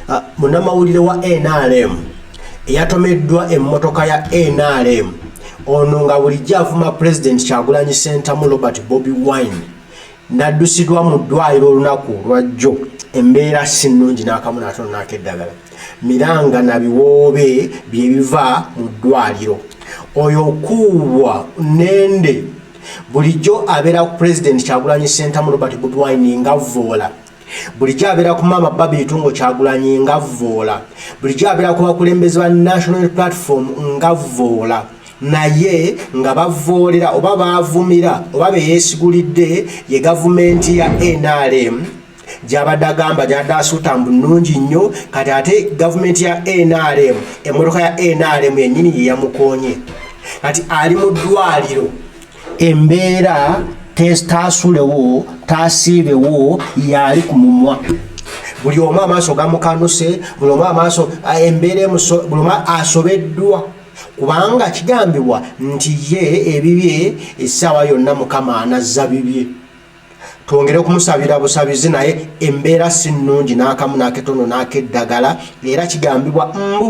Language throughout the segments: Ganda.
Ah, munamawulire wa nrm eyatomeddwa emmotoka ya nrm ono nga bulijjo avuma pulezidenti kyagulanyi sentamu robert bobi wine naddusidwa mu ddwaliro olunaku lwajjo embeera si nnungi n'akamu natono n'akeddagala miranga na biwoobe bye biva mu ddwaliro oyo okuubwa nende bulijjo abeera ku pulezidenti kyagulanyi sentamu robert bobi wine ngavvoola bulijjo abeera ku maama babi itungo kyagulanyi nga vvoola bulijjo abeera ku bakulembeze ba national platform nga vvoola naye nga bavvoolera oba baavumira oba be yeesigulidde ye gavumenti ya nrm gyabadde agamba gyabadde asuuta mbu nnungi nnyo kati ate gavumenti ya nrm emmotoka ya nrm yennyini ye yamukoonye kati ali mu ddwaliro embeera taasulewo taasiibewo yaali ku mumwa buli omu amaaso gamukanuse buli omu amaaso embeera buli omu asobeddwa kubanga kigambibwa nti ye ebibye essaawa yonna mukama anazza bibye twongere okumusabira busabizi naye embeera si nnungi n'akamu n'aketono n'akeddagala era kigambibwa mbu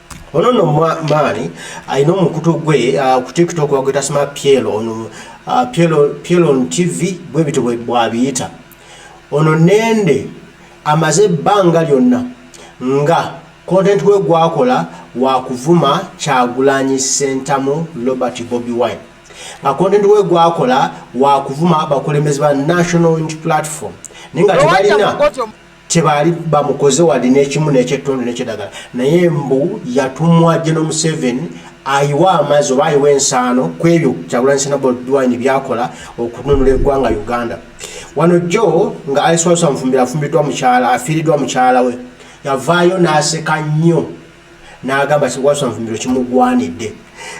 ono no maani alina omukutu gwe ah, ku tiktok wagweta sima piel ono ah, piel on tv bwe bityo bwabiyita ono nende amaze ebbanga lyonna nga content we gwakola wakuvuma kyagulanyi sentamu robert bobi wine nga content we gwakola wakuvuma abakulembezi ba national unit platform naye nga tebalina kyebaali bamukoze wadi nekimu nekyettondo nekyedagala naye mbu yatumwa geno museveni ayiwa amazzi oba ayiwa ensaano ku ebyo kyagulanyisenabodwine byakola okununula eggwanga uganda wano jjo nga aliswalusa mufumbira afumbiddwa mukyala afiiriddwa mukyala we yavaayo n'aseka nnyo n'agamba kiwalusa mufumbiro kimugwanidde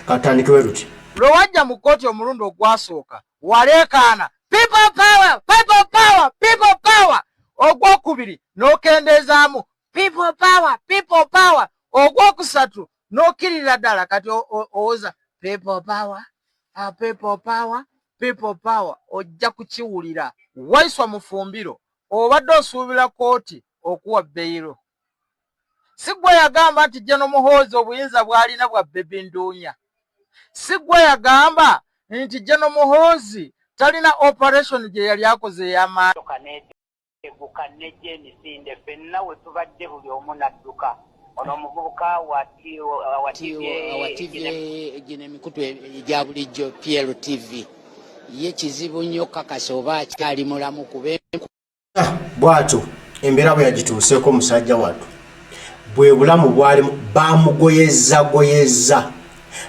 katandikewe luti lwe wajja mu kkooti omulundi ogwasooka waleekaana people power people power people power ogwokubiri n'okendeezaamu people power people power ogwokusatu n'okkirira ddala kati owoza people power ah, people power people power ojja kukiwulira waiswa mufumbiro obadde osuubira kooti okuwa beyiro Sigwa yagamba nti Jeno Muhoozi obuyinza bwalina bwa Baby Nduunya. Sigwa yagamba nti Jeno Muhoozi talina operation gye yali akoze ey'amaanyi. Emmotoka n'eteguka n'ejja emisinde ffenna we tubadde buli omu n'adduka. Ono omuvubuka wa TVA gino emikutu egya bulijjo, PLTV, ye kizibu nnyo okukakasa oba akyali mulamu kuba ah, bwatyo embeera bwe yagituuseeko musajja wattu bwe bulamu bwalimu bamugoyezagoyeza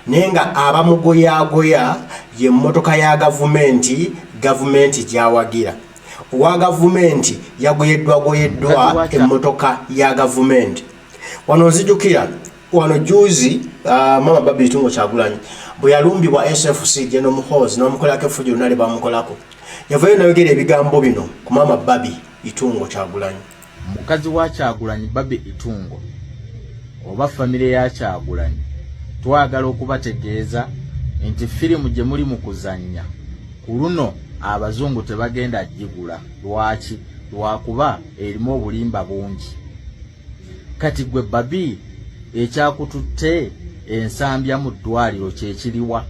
naye nga abamugoyagoya ye mmotoka ya gavumenti gavumenti gyawagira owa gavumenti yagoyeddwagoyeddwa emmotoka ya gavumenti wano nzijukira wano juzi uh, ah, mama babi tungo kyagulanyi bwe yalumbibwa sfc geno muhozi nomukolako effuji lona lye bamukolako yavayo nayogera ebigambo bino ku mama babi itungo kyagulanyi mukazi wa kyagulanyi babi itungo oba famire ya kyagulanyi twagala okubategeeza nti firimu gye muli mu kuzannya ku luno abazungu tebagenda gigula lwaki lwakuba erimu obulimba bungi Kati gwe babi ekyakututte ensambya mu ddwaliro kyekiriwa?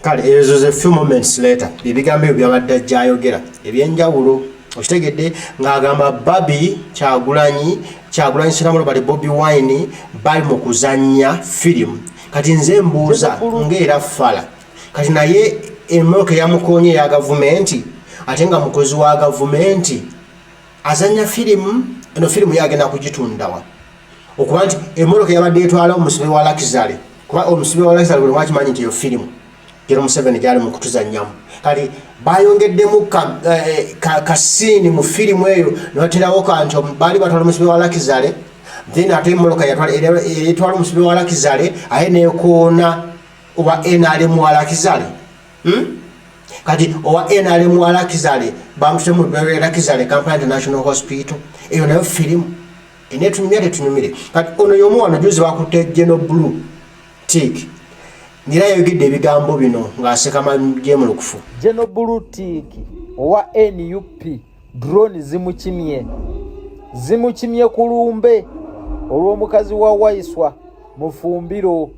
kale ezo ze few moments later ebigambo ebyo byabadde ajjayogera ebyenjawulo okitegedde ng'agamba babi kyagulanyi kyagulanyi siramulo bali bobi wine bali mu kuzannya firimu kati nze mbuuza ng'era fala kati naye emoka eyamukonye eya gavumenti ate nga mukozi wa gavumenti azanya firimu eno firimu yagenda kugitundawa okuba nti emoroka yabadde etwala omusibe wa lakizale kuba omusibe wa lakizale buli mwakimanyi nti eyo firimu gero museveni gyali mu kutuzanyamu kati bayongeddemu kasiini eh, mu firimu eyo nebaterawo kanti baali batwala omusibe wa lakizale then ate emoroka etwala omusibe wa lakizale aye nekoona owa nrm walakizale hmm? kati owa nrm walakizale bamuse mu ddwaliro erakizale kampala international hospital eyo nayo firimu enetunyumya tetunyumire kati ono yomu wano juzi bakutte geno blue tik ngira yayogedde ebigambo bino ng'aseka majemulukufu geno blue tik owa nup drone zimukimye zimukimye ku lumbe olw'omukazi wa waiswa mufumbiro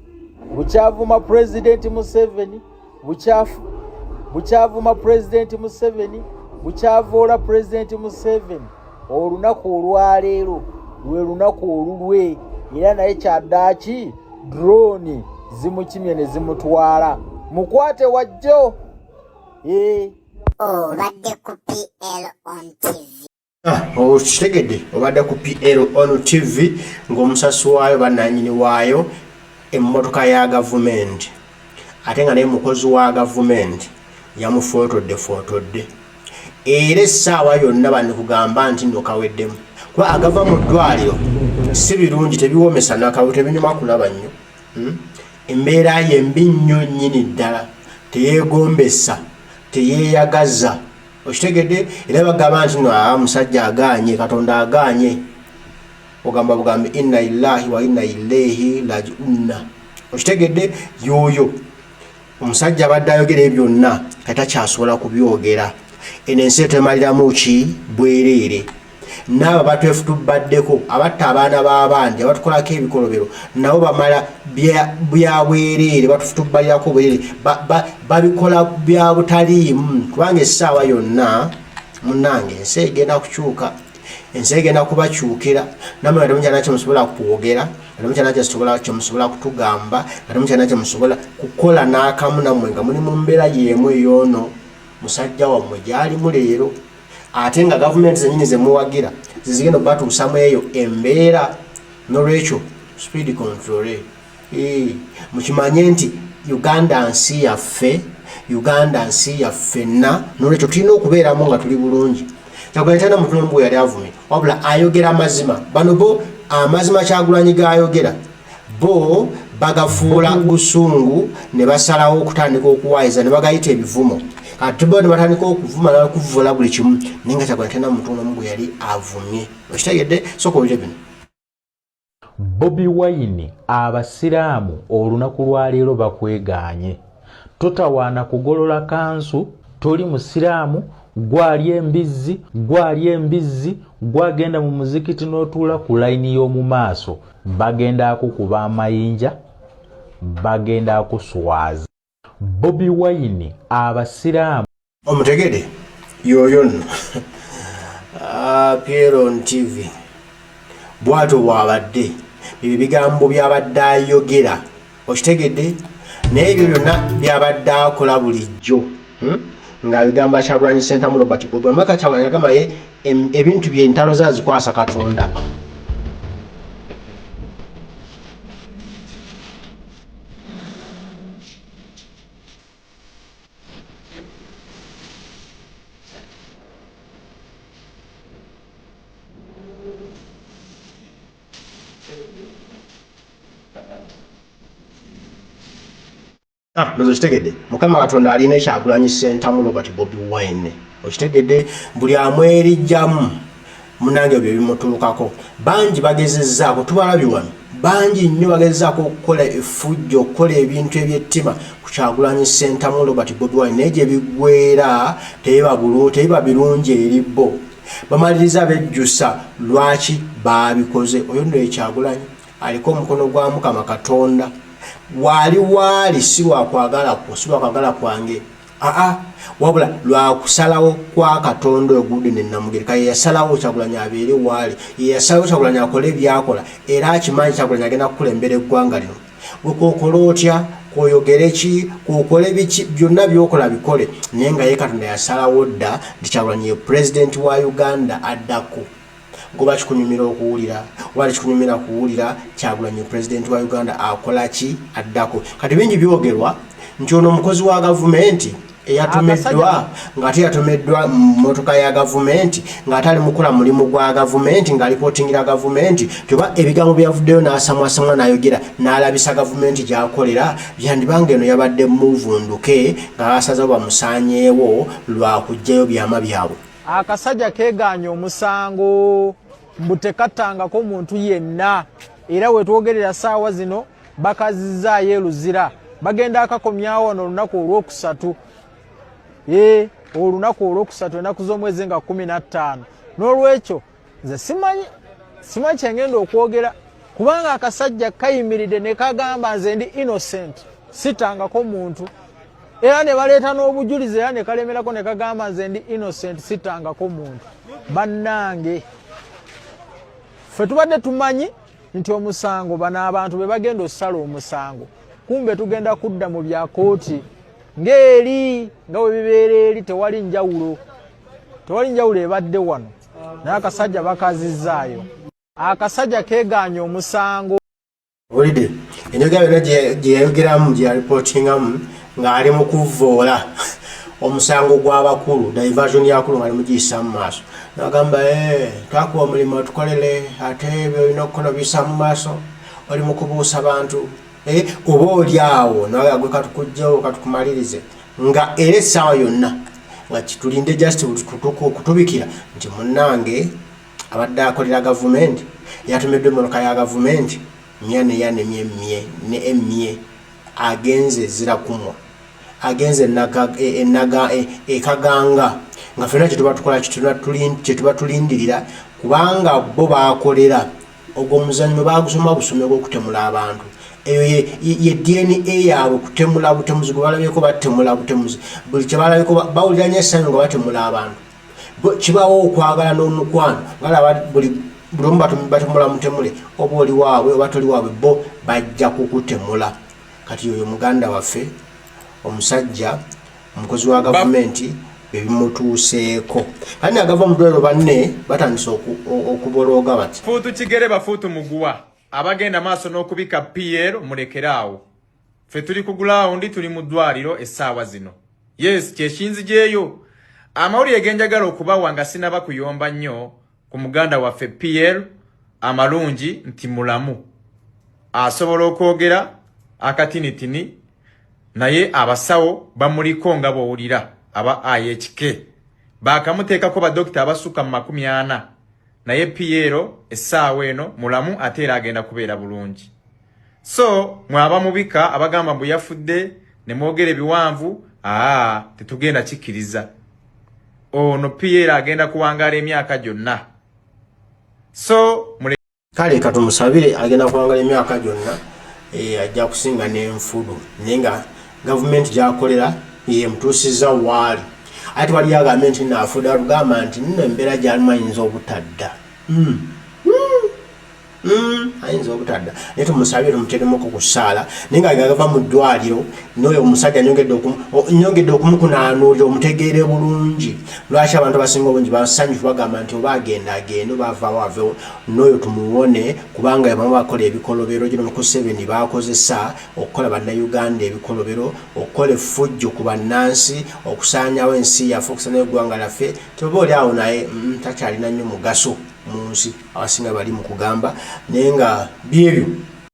bukyavuma pulezidenti museveni bukyavuma pulezidenti museveni bukyavoola pulezidenti museveni olunaku olwaleero lwe lunaku olulwe era naye kyaddaaki drone zimukimye ne zimutwala mukwate wajjo ee eh. obadde ku pl on tv ah, okitegedde obadde ku pl on tv ng'omusasi waayo bananyini waayo emmotoka ya gavumenti ate nga naye mukozi wa gavumenti yamufootodde footodde era essaawa yonna banikugamba nti nokaweddemu kuba agava mu ddwaliro si birungi tebiwomesa nakawe tebinyuma kulaba nnyo hmm? embeera ye mbi nnyo nnyini ddala teyeegombesa teyeeyagaza okitegedde era bagamba nti no aa musajja agaanye katonda agaanye ogamba bugambi inna illahi wa inna ileehi lajiunna okitegedde yoyo omusajja abadde ayogera ebyo byonna nga takyasobola kubyogera eno ensi etwemaliramu ki bwereere naabo batwefutubaddeko abatta abaana b'abandi abatukolako ebikolobero nabo bamala byabwereere batufutubalirako bwereere babikola bya butaliimu kubanga essaawa yonna munange ensi egenda kukyuka ensi egenda kubakyukira namwe nga temukyana kyemusobola kwogera nga temukyana kyesobola kyemusobola kutugamba nga temukyana kyemusobola kukola n'akamu namwe nga muli mu mbeera y'emu eyoono musajja wammwe gyalimu leero ate nga gavumenti zenyini zemuwagira zizigenda okubatuusamu eyo embeera nolwekyo speed controle Eh, mukimanye nti uganda nsi yaffe uganda nsi yaffenna nolwekyo tulina okubeeramu nga tuli bulungi kyagulanitana mutulombu yali avumira wabula ayogera amazima bano bo amazima kyagulanyi gayogera bo bagafuula busungu ne basalawo okutandika okuwayiza ne bagayita ebivumo atuba ne batandika okuvuma nokuvula buli kimu naye nga kyagulanitana mutulombu yali avumye okitegedde soka olire bino Bobi Wine abasiraamu olunaku lwaleero bakwegaanye. Totawaana kugolola kanzu, toli musiraamu, gwalya embizzi, gwalya embizzi, gwagenda mu muzikiti n'otuula ku layini y'omu maaso, bagenda kukuba amayinja, bagenda kuswaza. Bobi Wine abasiraamu. Omutegede yoyo no appear on TV bwato bwabadde ebyo bigambo byabadde ayogera okitegedde naye ebyo byonna byabadde akola bulijjo hmm? nga bigambo akyagulanye sentamu robert bobi amaka kyagulanye agamba ye ebintu byentalo zazikwasa katonda ndozo ah, kitegedde mukama katonda alina ekyagulanyi sentamu robert bobi wine okitegedde buli amwerijjamu munange ebyo bimutuukako bangi bagezezaako tubalabi wano bangi nnyo bagezezaako okukola efujja okukola ebintu ebyettima ku kyagulanyi sentamu robert bobiwine naye gye biggwera tebiba birungi eri bo bamaliriza bejjusa lwaki baabikoze oyo nno ekyagulanyi aliko omukono gwa mukama katonda waali waali si lwakwagala kwo si lwakwagala kwange aa wabula lwakusalawo kwa katonda ogude ne namugereka yeyasalawo kyagulanyi abeere waali yeyasalawo kyagulanyi akole ebyakola era akimanyi kyagulanyi agenda kukulembera eggwanga lino wekwokola otya kwoyogere ki kwokole biki byonna byokola bikole naye nga ye katonda yasalawo dda nti kyagulanyi ye pulezidenti wa uganda addako Goba kikunyumira okuwulira oba tekikunyumira kuwulira Kyagulanyi pulezidenti wa Uganda akola ki addako? Kati bingi byogerwa nti ono mukozi wa gavumenti eyatomeddwa ng'ate yatomeddwa mu mmotoka ya gavumenti ng'ate ali mukola mulimu gwa gavumenti ng'alipotingira gavumenti tyoba ebigambo byavuddeyo n'asamwasamwa n'ayogera n'alabisa gavumenti gy'akolera byandibanga eno yabadde muvunduke ng'abasaza bamusaanyeewo lwa kuggyayo byama byabwe Akasaja keganye omusango mbu tekatangako muntu yenna era wetwogerera saawa zino bakazizaayo eluzira bagenda akakomyawo wano olunaku olwokusatu e olunaku olwokusatu enaku z'omwezi nga kumi na ttaano n'olwekyo nze simanyi simanyi kyengenda okwogera kubanga akasajja kayimiridde ne kagamba nze ndi innocent sitangako muntu era ne baleeta n'obujulizi era ne kalemerako ne kagamba nze ndi innocent sitangako muntu bannange ffe tubadde tumanyi nti omusango bano abantu be bagenda okusala omusango kumbe tugenda kudda mu bya kooti ng'eri nga we bibeera eri tewali njawulo tewali njawulo ebadde wano naye akasajja bakazizzaayo akasajja kegaanya omusango olide enyoga yona gyeyayogeramu gyeyaripootingamu ng'ali mu kuvvoola omusango gw'abakulu diversion yakulu ng'ali mugiyisa mu maaso nagamba eh, twakuba omulimu otukolere ate byolina okukola obiyisa mu maaso oli mu kubuusa bantu Eh, oba oli awo nawe agwe katukujjawo katukumalirize nga era essaawa yonna nga kitulinde just kutuka okutubikira nti munnange abadde akolera gavumenti yatumiddwa emmotoka ya gavumenti mya neyanemye mye ne emye agenze ezirakumwa agenze ekaganga e, e, e, nga fena kyetuba tukola kyetuba tulindirira kubanga bo bakolera Ogwo omuzannyo baagusoma busome gw'okutemula abantu. Eyo ye, ye DNA yaabwe kutemula butemuzi gwe balabyeko batemula butemuzi. Buli kye balabyeko bawulira nnyo essanyu nga batemula abantu. Kibaawo okwagala n'omukwano balaba buli buli omu batemula mutemule oba oli waabwe oba toli waabwe bo bajja kukutemula. Kati oyo muganda waffe omusajja omukozi wa gavumenti ebimutuuseeko kati nagava mudwaliro banne batandise okubolooga bati fuutu kigere bafuutu muguwa abagenda maaso n'okubika pl mulekere awo ffe tuli ku gulawundi tuli mu ddwaliro essaawa zino yes kyekinzijeeyo amawulire genjagala okubawa nga sinaba kuyomba nnyo ku muganda waffe pl amalungi nti mulamu asobola okwogera akatinitini naye abasawo bamuliko nga bwowulira aba ihk baakamuteekako badokita abasukka mu makumi ana naye piyero essaawa eno mulamu ate era agenda kubeera bulungi so mwe abamubika abagamba mbu yafudde ne mwogera ebiwanvu aa tetugenda kikkiriza ono piyero agenda kuwangaala emyaka gyonna so kale katumusabire agenda kuwangala emyaka gyonna eh, ajja kusinga nenfudu naye nga gavumenti gyakolera yemutuusiza waali ate waliyo agambe nti nafuda lugamba nti nno embeera gyalimu ayinza obutadda hmm. Hmm. Hmm. ayinza obutadda naye tumusabire tumuteremuko ku ssaala naye nga gagava mu ddwaliro noyo omusajja nyongedde okumukunaanuulira omutegeere bulungi lwaki abantu abasinga obungi basanyufu bagamba nti oba agenda agende oba avaawo avewo noyo tumuwone kubanga yabamu bakola ebikolobero gino mukuseveni bakozesa okukola bannayuganda ebikolobero okukola effujjo ku bannansi okusaanyawo ensi yaffe okusanyawo eggwanga laffe teba oli awo naye mm, takyalina nnyo mugaso mu nsi abasinga bali mu kugamba naye nga byebyo